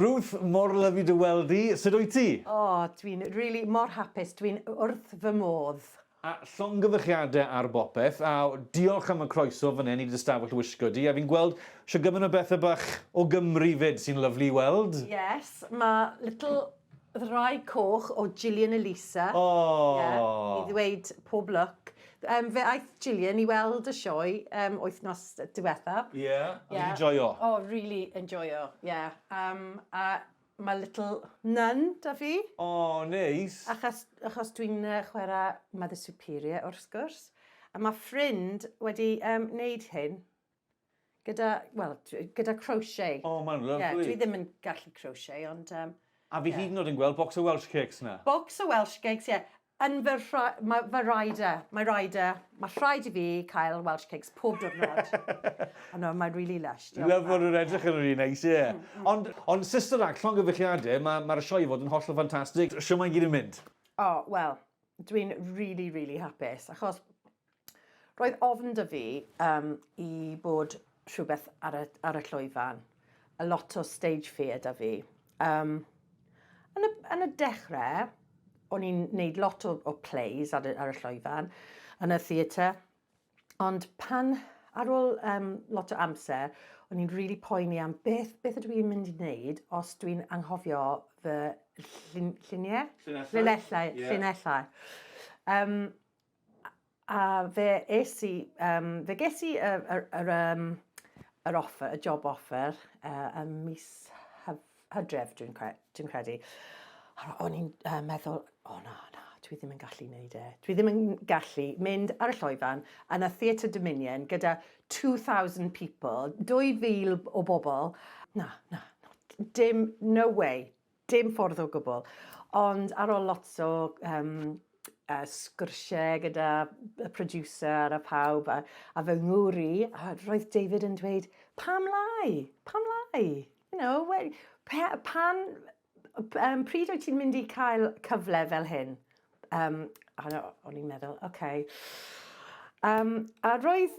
Ruth, mor lyfli dy weld di, sut wyt ti? O, dwi'n rili, mor hapus, dwi'n wrth fy modd. A llongyfarchiadau ar bopeth, a diolch am y croeso fan hyn i dy stafell wisgo di, a fi'n gweld sho gymaint o bethe bach o Gymru fyd sy'n lyfli i weld. Yes, ma' little ddraig coch o Gillian Elisa. O! Ie, i ddweud pob lwc. Yym fe aeth Gillian i weld y sioe um, wythnos diwetha. Ie, yeah. yeah. a fi'n joio. O, oh, really enjoyo, ie. Yeah. Um, a mae Little Nun da fi. O, oh, neis. Achos, achos dwi'n uh, chwarae Mother Superior, wrth gwrs. A mae ffrind wedi um, wneud hyn Gyda, wel, gyda crochet. O, mae'n lyflu. Yeah, dwi ddim yn gallu crochet, ond... Um, A fi yeah. hyd yn oed yn gweld bocs o Welsh Cakes na. Bocs o Welsh Cakes, ie. Yeah. Yn fy, mae fy rider, mae rider, mae rhaid i fi cael Welsh Cakes pob diwrnod. Ond no, mae'n really lush. Love fod nhw'n edrych yn rili neis, ie. Mm, mm. Ond, ond Sister Act, llongyfeilliadau, mae'r ma sioe fod yn holl o ffantastig. Siw mae'n gyd yn mynd? O, oh, wel, dwi'n really, really hapus, achos Roedd ofn 'da fi um, i bod rhywbeth ar y, ar y llwyfan. A lot o stage fear 'da fi. Um, yn, y, yn y dechrau, o'n i'n neud lot o, o plays ar y, ar y llwyfan, yn y theatre, ond pan, ar ôl um, lot o amser, o'n i'n rili really poeni am beth, beth ydw i'n mynd i wneud os dwi'n anghofio fy llun, lluniau? Llinellau. Llinellau, yeah. llinellau. Um, a fe es i, um, fe ges i yr, yr, yr, um, yr offer, y job offer uh, ym mis hyf, hydref, dwi'n cre, dwi credu. O'n i'n uh, meddwl, o oh, na, na, dwi ddim yn gallu wneud e. Dwi ddim yn gallu mynd ar y lloifan yn y Theatre Dominion gyda 2,000 people, 2,000 o bobl. Na, na, dim, no way. Dim ffordd o gwbl. Ond ar ol lot o yym yy sgwrshe gyda y producer a pawb a a fy ngŵr i a roedd David yn dweud pam lai? Pam lai? You know we- pe- pan p- yym pryd wyt ti'n mynd i cael cyfle fel hyn? Yym a o- o'n i'n meddwl ok. Yym a roedd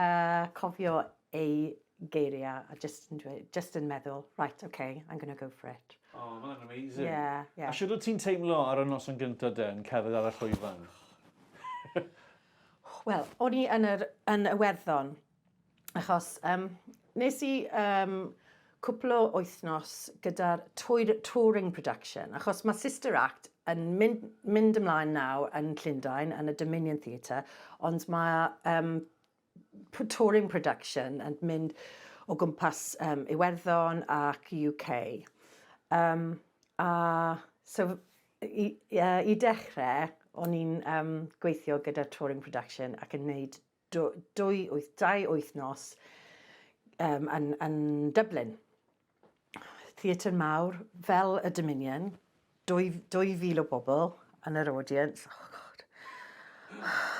A cofio ei geiriau a jyst yn dweud, jyst yn meddwl, right, ok, I'm gonna go for it. O, mae hwnna'n amazing. Ie, ie. A shwt wyt ti'n teimlo ar y noson gyntaf de, yn cerdded ar y llwyfan? Wel, o'n i yn yr, yn Iwerddon, achos, um, nes i, um, cwpl o wythnos gyda'r touring production, achos mae Sister Act yn mynd ymlaen nawr yn Llundain yn y Dominion Theatre, ond mae um, touring production yn mynd o gwmpas um, Iwerddon ac UK. Um, a so, i, uh, i dechrau, o'n i'n um, gweithio gyda touring production ac yn gwneud dwy, dwy, wyth, dau wythnos um, yn, yn Dublin. Theatr mawr fel y Dominion, 2000 o bobl yn yr audience. Oh god.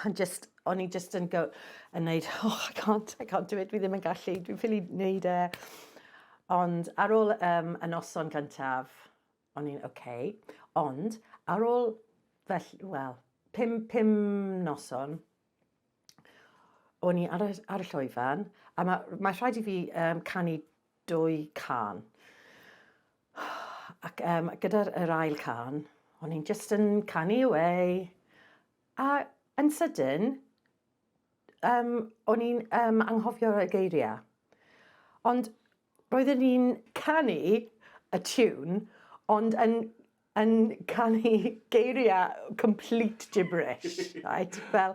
And just, o'n i just yn go, yn neud, oh I can't, I can't do it, dwi ddim yn gallu, dwi'n ffili neud e. Ond ar ôl um, y noson gyntaf, o'n i'n oce. Okay. Ond ar ôl, fel, wel, pum, pum noson, o'n i ar y, ar y llwyfan, a mae, mae rhaid i fi um, canu dwy can. Ac um, gyda'r yr ail can, o'n i'n just yn canu away. A yn sydyn, um, o'n i'n um, anghofio y geiriau. Ond roedden ni'n canu y tiwn, ond yn yn cael ei geirio â complete gibberish right fel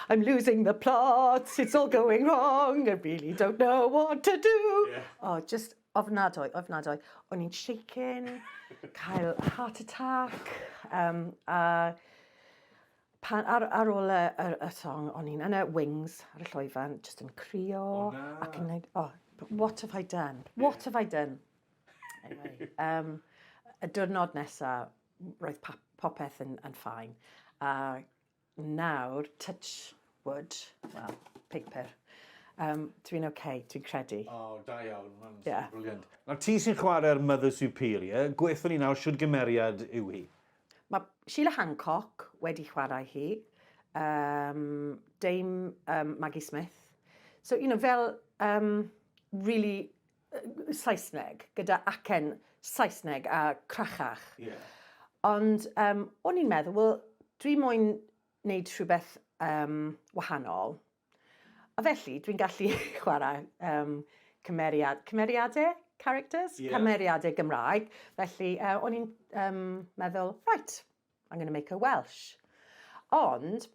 I'm losing the plot it's all going wrong I really don't know what to do. Ie. O jyst ofnadwy ofnadwy. O'n i'n shaking cael heart attack yym a pan ar ar ôl y y y song o'n i'n yn y wings ar y llwyfan jyst yn crio... O na. ...ac yn neud o what have I done what have I done. Anyway, um, y diwrnod nesaf, roedd popeth yn, yn ffain. A nawr, touch wood, well, paper, um, dwi'n oce, okay, dwi'n credu. O, oh, da iawn, mae'n yeah. brilliant. Nawr ti sy'n chwarae'r Mother Superior, gweithio ni nawr, siwr gymeriad yw hi? Mae Sheila Hancock wedi chwarae hi, um, Dame um, Maggie Smith. So, you know, fel um, really Saesneg, gyda acen Saesneg a crachach. Ie. Ond um, o'n i'n meddwl, wel, dwi moyn wneud rhywbeth um, wahanol. A felly, dwi'n gallu chwarae um, cymeriad, cymeriadau, characters, yeah. cymeriadau Gymraeg. Felly, uh, o'n i'n um, meddwl, right, I'm going to make her Welsh. Ond,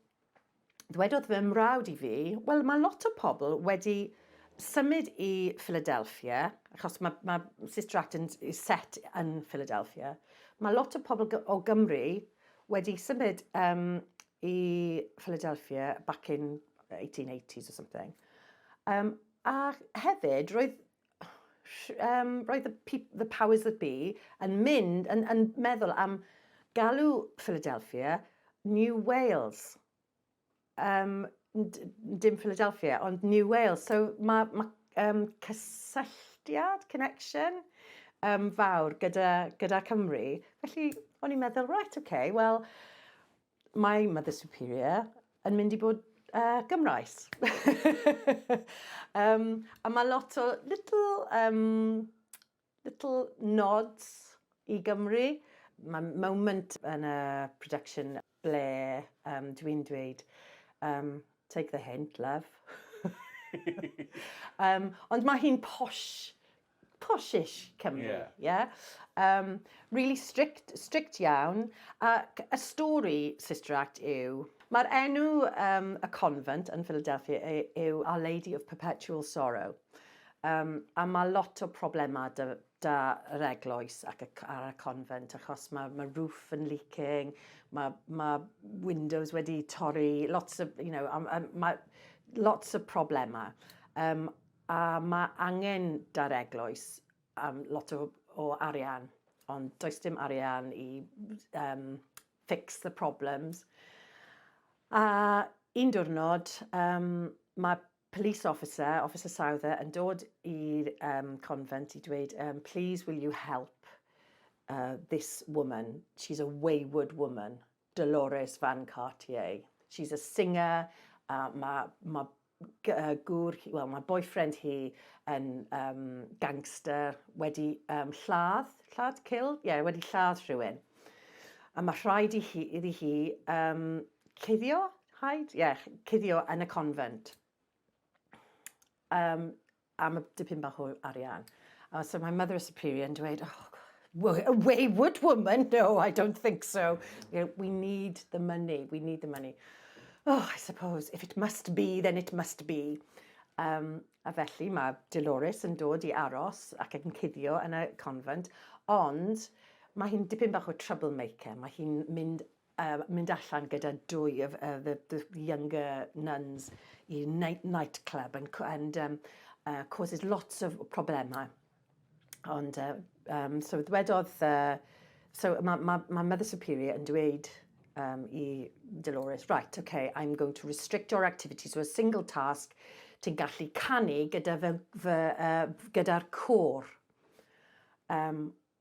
ddwedodd fy mrawd i fi, wel mae lot o pobl wedi symud i Philadelphia, achos mae, mae Sister Act yn set yn Philadelphia, mae lot o pobl o Gymru wedi symud um, i Philadelphia back in 1880s or something. Um, a hefyd, roedd um, roedd the, the powers that be yn mynd, yn, yn meddwl am galw Philadelphia New Wales. Um, dim Philadelphia, ond New Wales. So mae ma, um, cysylltiad, connection, um, fawr gyda, gyda Cymru. Felly, o'n i'n meddwl, right, okay, well, Mae Mother Superior yn mynd i bod uh, Gymraes. um, a mae lot o little, um, little nods i Gymru. Mae moment yn y production ble um, dwi'n dweud, um, take the hint, love. um, ond mae hi'n posh poshish Cymru, ie. Yeah. Yeah? Um, really strict, strict iawn. Ac y stori, Sister Act, yw... Mae'r enw um, y convent yn Philadelphia yw Our Lady of Perpetual Sorrow. Um, a mae lot o problemau da, da yr eglwys ac y, ar y convent, achos mae, mae roof yn leaking, mae, mae windows wedi torri, lots of, you know, um, um, mae lots of problemau. Um, A mae angen da'r eglwys am lot o o arian, ond does dim arian i um, fix the problems. A un diwrnod, um, mae police officer, Officer Souther, yn dod i'r um, convent i dweud, um, please will you help uh, this woman, she's a wayward woman, Dolores Van Cartier. She's a singer, uh, mae ma gŵr hi, wel mae boyfriend hi yn um, gangster, wedi um, lladd, lladd kill, ie, yeah, wedi lladd rhywun. A mae rhaid i hi, iddi hi um, cuddio, haid, ie, yeah, cuddio yn y convent. Um, am y dipyn bach o arian. Uh, so my mother is superior yn dweud, oh, a wayward woman, no, I don't think so. You know, we need the money, we need the money. Oh, I suppose, if it must be, then it must be. Um, a felly mae Dolores yn dod i aros ac yn cuddio yn y convent, ond mae hi'n dipyn bach o troublemaker. Mae hi'n mynd Yy, mynd allan gyda dwy of uh, the, the younger nuns i night, night club and, and um, uh, causes lots of problemau. Ond, uh, um, so ddwedodd, uh, so mae ma, ma Mother Superior yn dweud um, i Dolores, right, okay, I'm going to restrict your activity to a single task, ti'n gallu canu gyda fy, fy, uh, gyda'r cwr. Um,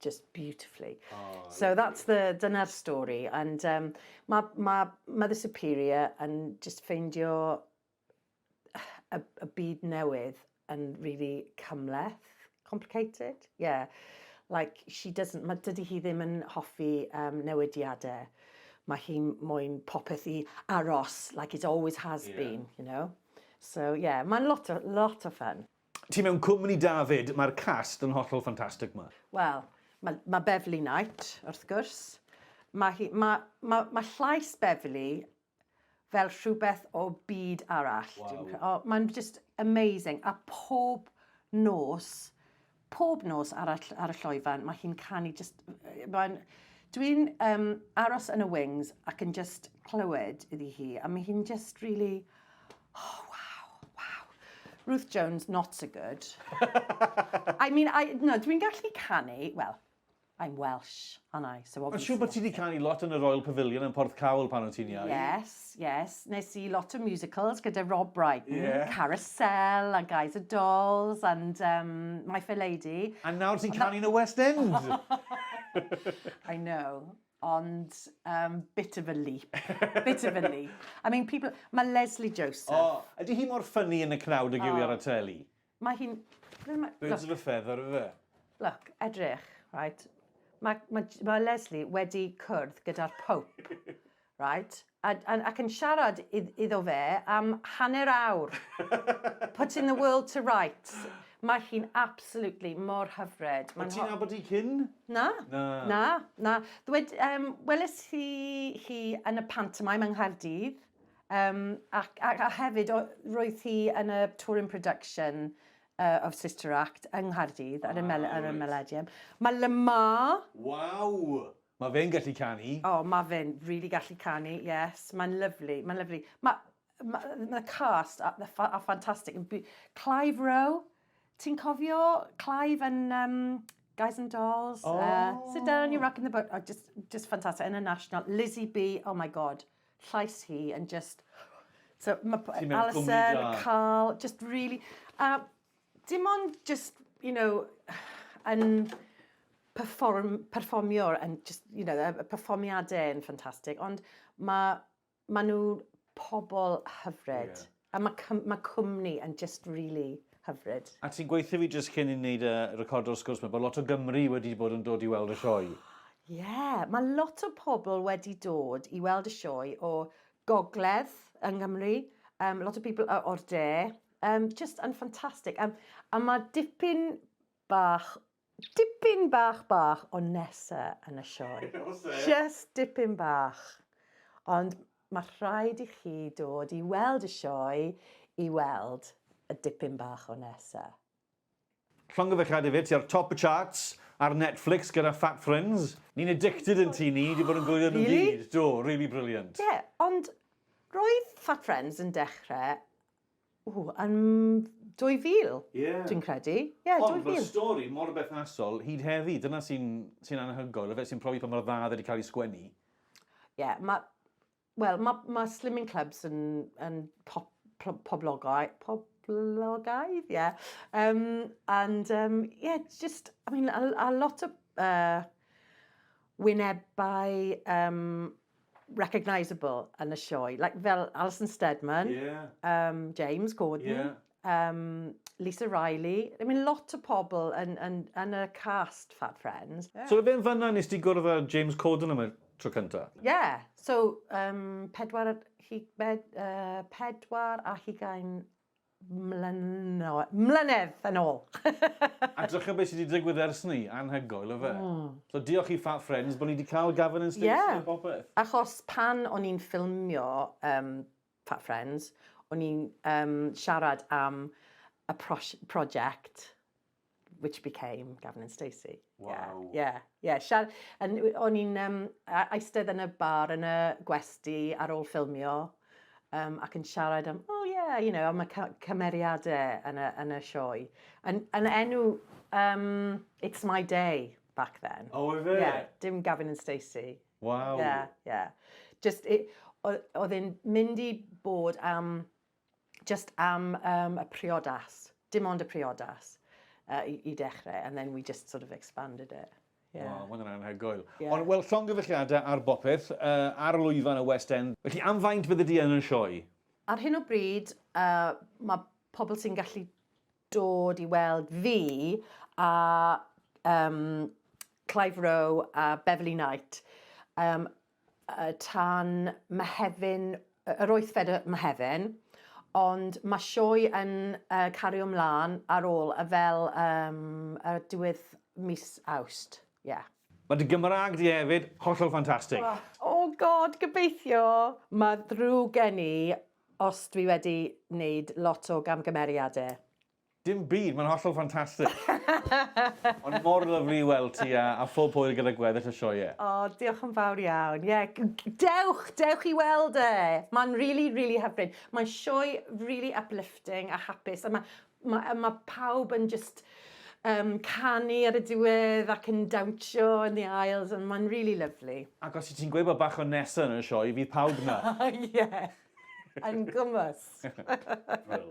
just beautifully. Oh, so that's the, dyna'r stori. And um, mae ma Mother Superior yn just ffeindio y, y byd newydd yn really cymleth, complicated, yeah. Like, she doesn't, mae dydy hi ddim yn hoffi um, newidiadau. Mae hi moyn popeth i aros, like it always has yeah. been, you know. So, yeah, mae'n lot o, lot o fun. Ti mewn cwmni da 'fyd, mae'r cast yn hollol ffantastig 'ma. Wel, mae ma' Beverley Knight, wrth gwrs. Mae hi... mae... mae... mae llais Beverley fel rhywbeth o byd arall. Wow. O, mae'n just amazing. A pob nos, pob nos ar, ar y lloifan, mae hi'n canu just... Mae'n... Dwi'n um, aros yn y wings ac yn just clywed iddi hi, a mae hi'n just really... Oh, wow, wow. Ruth Jones, not so good. I mean, I, no, dwi'n gallu canu, well, I'm Welsh, aren't I? So Mae'n siŵr bod ti wedi canu lot yn y Royal Pavilion yn Porth Cawl pan o'n ti'n iau. Yes, yes. Nes i lot o musicals gyda Rob Bright. Yeah. Carousel, a Guys of Dolls, and um, My Fair Lady. A nawr ti'n canu yn y West End! I know. Ond, um, bit of a leap. bit of a leap. I mean, people... Mae Lesley Joseph... O, oh, ydy hi mor ffynnu yn y cnawd ag yw i ar y teli? Mae hi'n... Birds of a feather, yw e? Look, edrych, right? Mae ma, ma Lesley wedi cwrdd gyda'r Pope, right? A, a, ac yn siarad id, iddo fe am hanner awr. Putting the world to rights. Mae hi'n absolutely mor hyfryd. O't ti'n nabod hi cyn? Na. Na. Na, na. Ddwed, um, weles i hi yn y pantomime yng Nghaerdydd, um, ac, ac, a hefyd roedd hi yn y touring production uh, of Sister Act yng Nghaerdydd ar y, mel, ar y Melodium. Mae Lamar... Waw! Ma fe'n gallu canu. O ma fe'n rili gallu canu yes mae'n lyfli mae'n lyfli. Ma ma ma cast a the a ffantastig yn by- Clive Rowe ti'n cofio Clive yn yym Guys and Dolls oh. uh, sit down you're rocking the boat oh, just just ffantastig yn y National Lizzie B oh my god llais hi yn just so ma Alison Carl just really a uh, Dim ond just, you know, yn perform, perfformio, yn just, you know, y perfformiadau yn ffantastig, ond mae ma nhw pobl hyfryd. Yeah. A mae cym, ma cwmni yn just really hyfryd. A ti'n gweithio fi jyst cyn i ni wneud y record o'r sgwrs, mae bod lot o Gymru wedi bod yn dod i weld y sioe. Ie, yeah, mae lot o pobl wedi dod i weld y sioe o gogledd yng Nghymru, um, lot o pobl o'r de, Um, just yn ffantastig. Um, a mae dipyn bach, dipyn bach bach o nesa yn y sioe. just dipyn bach. Ond mae rhaid i chi dod i weld y sioe i weld y dipyn bach o nesa. Llongyfarchiadau fi, ti ar top y charts ar Netflix gyda Fat Friends. Ni'n addicted yn tŷ ni, di bod yn gwylio nhw gyd. Do, really brilliant. Ie, ond roedd Fat Friends yn dechre, ww, yn 2000, dwi'n credu. Ie, 2000. Ond mae'r stori mor berthnasol hyd heddi, dyna sy'n anhygoel, y fe sy'n profi pa mor dda oedd e wedi cael ei sgwennu. Ie, mae Wel, mae, mae slimming clubs yn, yn pop, poblogau, poblogaidd, ie. Yeah. Um, and, um, yeah, just, I mean, a, a lot of uh, wynebau um, recognisable yn y sioe. Like, fel Alison Steadman, yeah. um, James Corden, yeah. um, Lisa Riley. I mean, lot o pobl yn, yn, yn y cast Fat Friends. Yeah. So fe'n fanna nes ti gwrdd â James Corden am y tro cynta? Yeah, so um, pedwar, hi, bed, uh, pedwar a hugain mlyno, mlynedd yn ôl. a drychio beth sydd wedi digwydd ers ni, anhygoel o fe. Mm. So diolch i Fat Friends bod ni wedi cael Gavin and Stacey yeah. a popeth. Achos pan o'n i'n ffilmio um, Fat Friends, o'n i'n um, siarad am y prosiect which became Gavin and Stacey. Wow. Yeah, yeah. yeah. and o'n i'n um, eistedd yn y bar yn y gwesti ar ôl ffilmio um, ac yn siarad am, oh yeah, you know, am y cymeriadau yn y, yn y sioe. Yn, yn enw, um, It's My Day back then. Oh, is it? Yeah, dim Gavin and Stacey. Waw! Ie, ie. Jyst, i- o- oedd e'n mynd i bod am, jyst am um, y priodas. Dim ond y priodas uh, i, i dechrau, and then we just sort of expanded it. Yeah. Waw, mae'n anhygoel. Ie. Ond, wel, llongyfarchiadau ar bopeth, uh, ar y lwyfan y West End. Felly, am faint bydde di yn y sioe? Ar hyn o bryd, uh, mae pobl sy'n gallu dod i weld fi a yym Clive Rowe a Beverley Knight yym yy tan Mehefin yy yr wythfed o Mehefin ond ma' sioe yn yy cario mlan ar ôl a fel yym y diwedd mis Awst ie. Ma dy Gymraeg di hefyd hollol ffantastig. O God gobeithio! Ma ddrwg gen i Os dwi wedi neud lot o gamgymeriade. Dim byd, mae'n hollol ffantastig! Ond mor lyfli i weld ti a a phob hwyl gyda gweddill y sioe. O, diolch yn fawr iawn. Ie, dewch, dewch i weld e! Mae'n rili, rili hyfryd. Mae'n sioe rili uplifting a hapus a mae Ma' yy ma' pawb yn jyst yym canu ar y diwedd ac yn dawnsio yn the aisles and ma'n rili lyfli. Ac os wyt ti'n gweud bod bach o Nesa yn y sioe, fydd pawb 'na. Ie! Yn gwmws! Wel.